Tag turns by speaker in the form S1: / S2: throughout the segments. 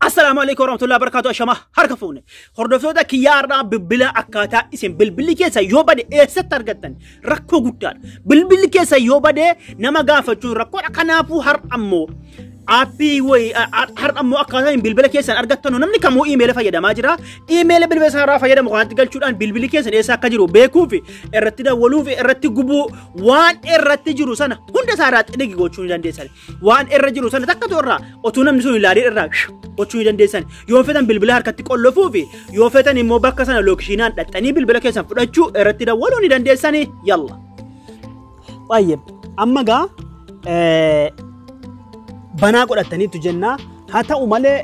S1: Assalaamu alaikum warahmatullahi wabarakatuh ashama harka fuune hordoftoota kiyyaa har'aa bilbila akkaataa isin bilbilli keessa yoo bade eessatti argattan rakkoo guddaadha bilbilli keessa yoo bade nama gaafachuun rakkoodha kanaafuu har'a ammoo aappii wayi har'a ammoo akkaataa isin bilbila keessan argattanu namni kamuu iimeela fayyadamaa jira iimeela bilbila isaa irraa fayyadamu kanatti galchuudhaan bilbilli keessan eessa akka jiru beekuu fi irratti dawwaluu fi irratti gubuu waan irratti jiru sana hunda isaa irraa xidhigi gochuu ni dandeessan waan irra jiru sana takka toorraa otuu namni sun ilaalee irraa gochuu ni dandeessan yoo fetan bilbila harkatti qollofuu fi yoo fetan immoo bakka sana lookishiinaan dhaxxanii bilbila keessan fudhachuu irratti dawwaluu ni dandeessan yalla. Baay'ee amma gaa banaa godhataniitu jennaa haa ta'u malee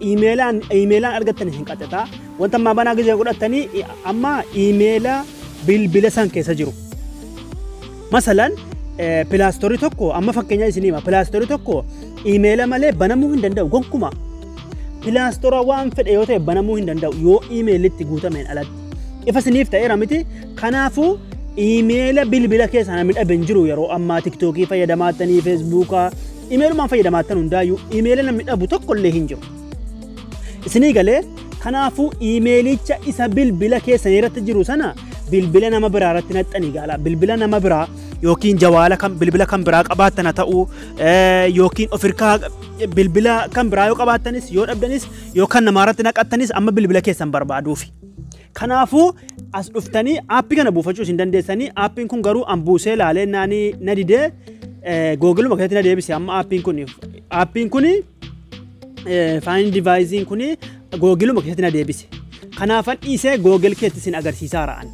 S1: iimeelaan iimeelaan argattan isin qaxxata wanta ammaa banaa gizee godhatanii amma iimeela bilbila san keessa jiru. Masalan pilaastorri tokko amma fakkeenya isin hima pilaastorri tokko imeela malee banamuu hin danda'u gonkuma pilaastora waan fedhe yoo ta'e banamuu hin danda'u yoo imeelitti guutameen alatti ifa isiniif ta'eera miti kanaafuu imeela bilbila keessaa namni dhabe hin jiru yeroo ammaa tiktookii fayyadamaattanii feesbuukaa imeelumaan fayyadamaattan hundaayyuu imeela namni dhabu tokko illee hin jiru isinii galee kanaafuu imeelicha isa bilbila keessanii irratti jiru sana bilbila nama biraa irratti naxxanii gaala bilbila nama biraa yookiin jawaala kan bilbila kan biraa qabaattan haa ta'u eh, yookiin ofirkaa bilbila kan biraa yoo qabaattanis yoo dhabdanis yoo kan namaa irratti naqattanis amma bilbila keessan barbaaduufi. Kanaafuu as dhuftanii aappii kana buufachuu isin dandeessanii aappiin kun garuu an buusee laalee naanii na didee eh, googiluma keessatti na deebise amma aappiin kun aappiin kun Faayin divaayiziin kun googiluma keessatti na deebise. Kanaafan dhiisee googil keetti isin agarsiisaa ra'an.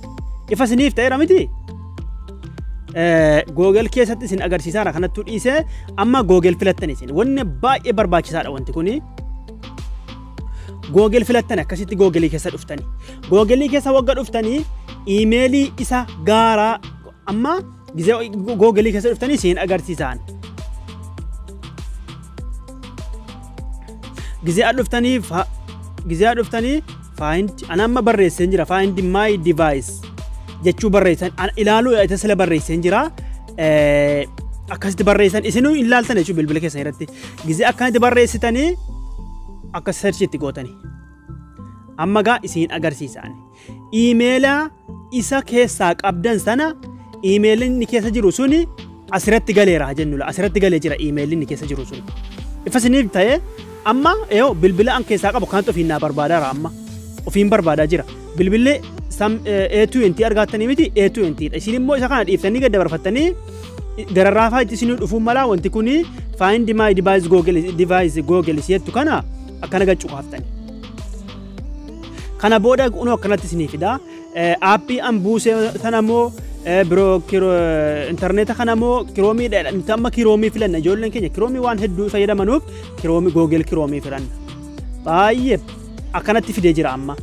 S1: Ifa isiniif ta'eera miti? Googil keessatti isin agarsiisaa ra kanattuu dhiisee amma googil filattan isin. Wanni baay'ee barbaachisaadha wanti kuni. Googil filattan akkasitti googilii keessa dhuftani. Googilii keessa wagga dhuftanii iimeelii isa gaaraa amma Gizee googalii keessa dhuftanii siin agarsiisaan. Gizee adda dhuftanii fa gizee adda dhuftanii find ana amma barreessee jira find my device jechuu barreessan ana ilaaluu isa sila barreessee jira. Eh, Akkasitti barreessan isinuu hin laaltan jechuudha bilbila keessan irratti. Gizee akkanatti barreessitanii akka search itti gootanii. Amma gaa isin agarsiisaan. iimeela isa keessaa qabdan sana iimeelli inni keessa jiru suni asirratti galeera haa jennu asirratti galee jira iimeelli inni keessa jiru suni. Ifa isiniif ta'ee amma yoo bilbila an keessaa qabu kanatti ofiin naa barbaadaara amma ofiin barbaadaa jira bilbilli sam A2NT argaattanii miti A2NT dha isin immoo isa kana dhiiftanii gad dabarfattanii gararraafaa itti isinii dhufuun malaa wanti kuni find my device google device google jettu kana akkana gad cuqaaftanii. Kana booda unoo akkanatti isinii fida. Aappii an buuse sana immoo biroo intarneeta kana immoo kiroomii dha. Nuti amma kiroomii filanna ijoolleen keenya kiroomii waan hedduu fayyadamanuuf kiroomii googeel kiroomii filanna. Baay'ee akkanatti fidee jira amma.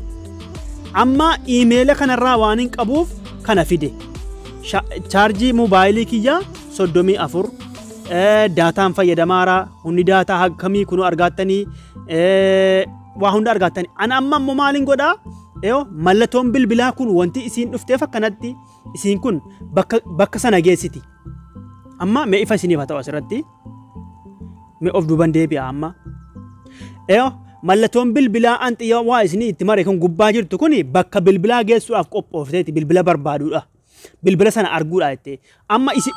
S1: Amma iimeela kanarraa waan hin qabuuf kana fide. Chaarjii moobaayilii kiyyaa soddomii afur daataan fayyadamaaraa hundi daataa akkamii kunuu argaattanii waa hunda argattani. An amma immoo maalin godhaa? Yoo mallattoon bilbilaa kun wanti isiin dhufteef akkanatti isiin kun bakka, bakka sana geessiti. Amma mee ifa isiniif haa ta'u asirratti. Mee of duuban deebi'a amma. Yoo mallattoon bilbilaa an xiyya waa isinii itti mare kun gubbaa jirtu kun bakka bilbilaa geessuudhaaf qophoofteeti bilbila barbaaduudha. Bilbila sana arguudha jettee. Amma isi...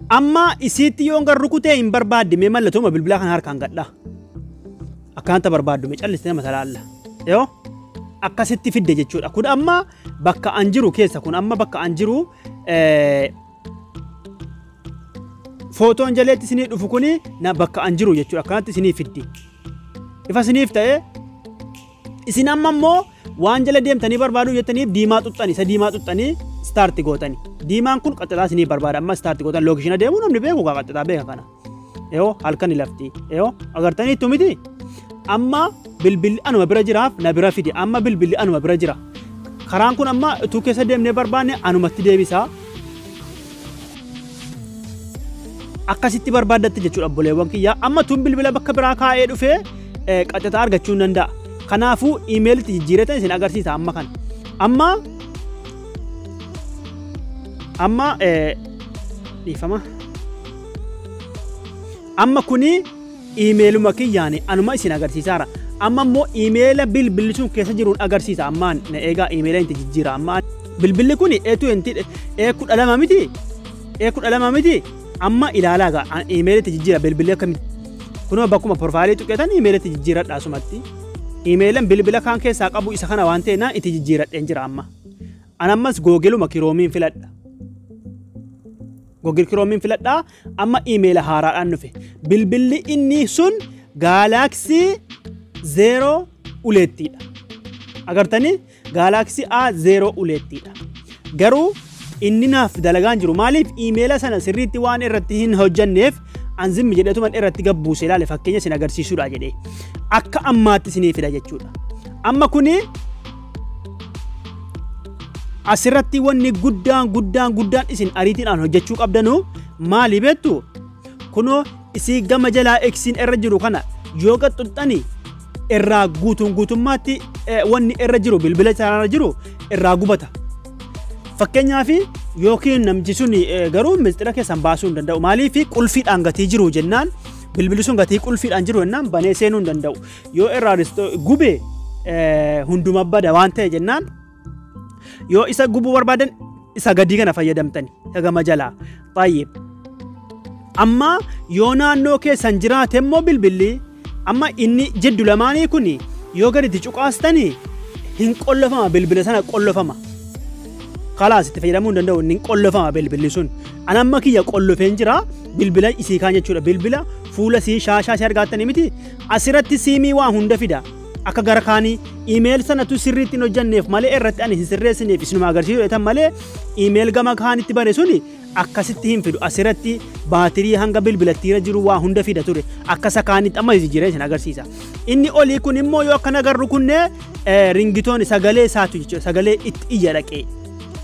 S1: Amma isiitti yoon gar rukutee hin barbaadde mee mallatoo bilbilaa kana harkaan gadhaa. Akkaanta barbaaddu mee callistee nama talaalla. Yoo akkasitti fidde jechuudha. Kun amma bakka an jiru keessa kun amma bakka an jiru footoon jaleetti isinii dhufu kuni bakka an jiru jechuudha. Akkanatti isinii fiddi. Ifa isiniif ta'ee Isin amma immoo waan jala deemtanii barbaaduu jettaniif diimaa xuxxani isa diimaa xuxxanii istaarti gootani. Diimaan kun qaxxataa isinii barbaada amma istaarti gootan lookishina deemuu namni beeku kaa qaxxataa beeka kana. Yoo halkan lafti yoo agartanii ittu miti amma bilbilli anuma bira jiraaf na bira fide amma bilbilli anuma bira jira. Karaan kun amma utuu keessa deemnee barbaanne anumatti deebisaa. akkasitti barbaaddatte jechuudha obboleewwan kiyyaa amma tun bilbila bakka biraa kaa'ee dhufee qaxxataa argachuu hin danda'a kanaafuu imeelitti jijjiiratan isin agarsiisa amma kana amma amma dhiifama amma kuni Imeeluma kiyyaan anuma isin agarsiisaara. Amma immoo imeela bilbilli sun keessa jiruun agarsiisa. Ammaan na eegaa imeela itti jijjiira. Amma bilbilli kun A20 A12 miti A12 miti amma ilaalaa gaa an imeela itti jijjiira bilbilli akkamitti. Kunoo bakkuma porfaayilii tuqeetan imeela itti jijjiiradha asumatti. Imeelan bilbila kaan keessaa qabu isa kana waan ta'e naan itti jijjiiradheen jira amma. An ammas googiluma kiroomiin filadha. Googil kiroomiin filadha Amma iimeela haaraadhaan dhufe. Bilbilli inni sun gaalaaksii zeeroo uleettiidha. Agartanii gaalaaksii A zeeroo uleettiidha. Garuu inni naaf dalagaan jiru maaliif iimeela sana sirriitti waan irratti hin hojjanneef an zimmi jedhetuman irratti gabbuuse ilaale fakkeenya isin agarsiisuudha jedhee akka ammaatti isinii fida jechuudha. Amma kuni Asirratti wanni guddaan guddaan guddaan isin ariitiidhaan hojjechuu qabdanu maali beektu? Kunoo isii gama jalaa eksiin irra jiru kana yoo qaxxuxxani irraa guutuun guutummaatti wanni irra jiru bilbila isaarra jiru irraa gubata. Fakkeenyaaf yookiin namchi sun garuu mixxira keessan baasuu hin danda'u. Maaliif qulfiidhaan gatii jiru jennaan bilbili sun gatii qulfiidhaan jiru jennaan banee seenuu hin danda'u. Yoo irraan gube hunduma bada waan ta'e jennaan yoo isa gubuu barbaadan isa gadii kana fayyadamtani gama jalaa baay'ee. Amma yoo naannoo keessan jiraate immoo bilbilli amma inni jiddu lamaanii kun yoo gadi itti cuqaastani hin qollofama bilbila sana qollofama. Kalaas itti fayyadamuu hin danda'u hin qollofama bilbilli sun. An amma kiyya qollofeen jira bilbila isii kaan jechuudha bilbila fuula isii shaashaa isii argaattanii miti Asiratti siimii waa hunda fida. Akka gara kaanii email sanatu sirriitti hin hojjanneef malee irratti ani hin sirreessineef isinuma agarsiisu jedhan malee email gama kaanitti bane suni akkasitti hin fidu. Asiratti baatirii hanga bilbilattiira jiru waa hunda fida ture. Akka isa kaanitti amma jijjiiree isin agarsiisa. Inni olii kun immoo yoo akkana garru kunne ringitoon sagalee isaatu jechuudha. Sagalee itti iyya dhaqee.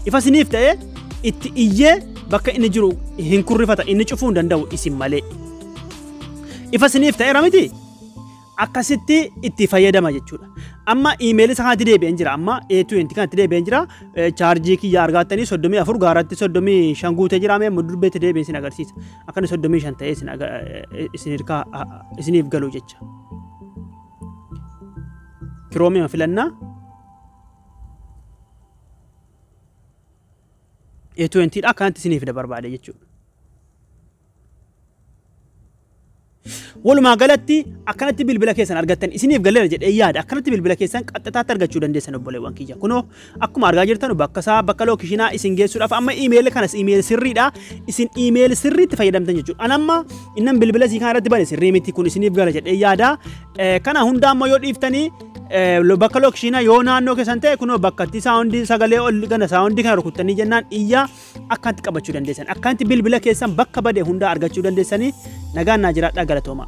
S1: Ifa isiniif ta'ee itti iyyee bakka inni jiru hin kurrifata inni cufuu hin danda'u isin malee. Ifa siniif ta'eera miti? Akkasitti itti fayyadama jechuudha. Amma iimeelii isaa kanatti deebi'een jira. Amma A20 kanatti deebi'een jira. Eh, Chaarjii kiyya argaattanii 34 gaaratti 35 guutee jira. Mee mudurri beetti deebi'ee isin agarsiisa. Akkana 35 ta'ee isin aga- eh, isin hirkaa ah, ah, isiniif galu jecha. Kiroomiima filannaa. A20 dha akkanatti isiniif da barbaade jechuudha. Walumaa galatti akkanatti bilbila keessan argattan isiniif galeera jedhee yaada akkanatti bilbila keessan qaxxataatti argachuu dandeessan obboleewwan kiyya kunoo akkuma argaa jirtan bakka isaa bakka lookishinaa isin geessuudhaaf amma iimeeli kanas iimeeli sirriidha isin iimeeli sirriitti fayyadamtan jechuudha an amma innan bilbila isii kana irratti bane sirrii miti kun isiniif gala jedhee yaada Eh, kana hunda ammoo yoo dhiiftanii Eh, lo- bakka lookishinaa yoo naannoo keessan ta'e kunoo bakka itti saawundii sagalee ol gana saawundii kana rukuttanii jennaan iyyaa akkaanti qabachuu dandeessan akkaanti bilbila keessan bakka bade hundaa argachuu dandeessanii nagaan naa jiraadhaa galatoomaa.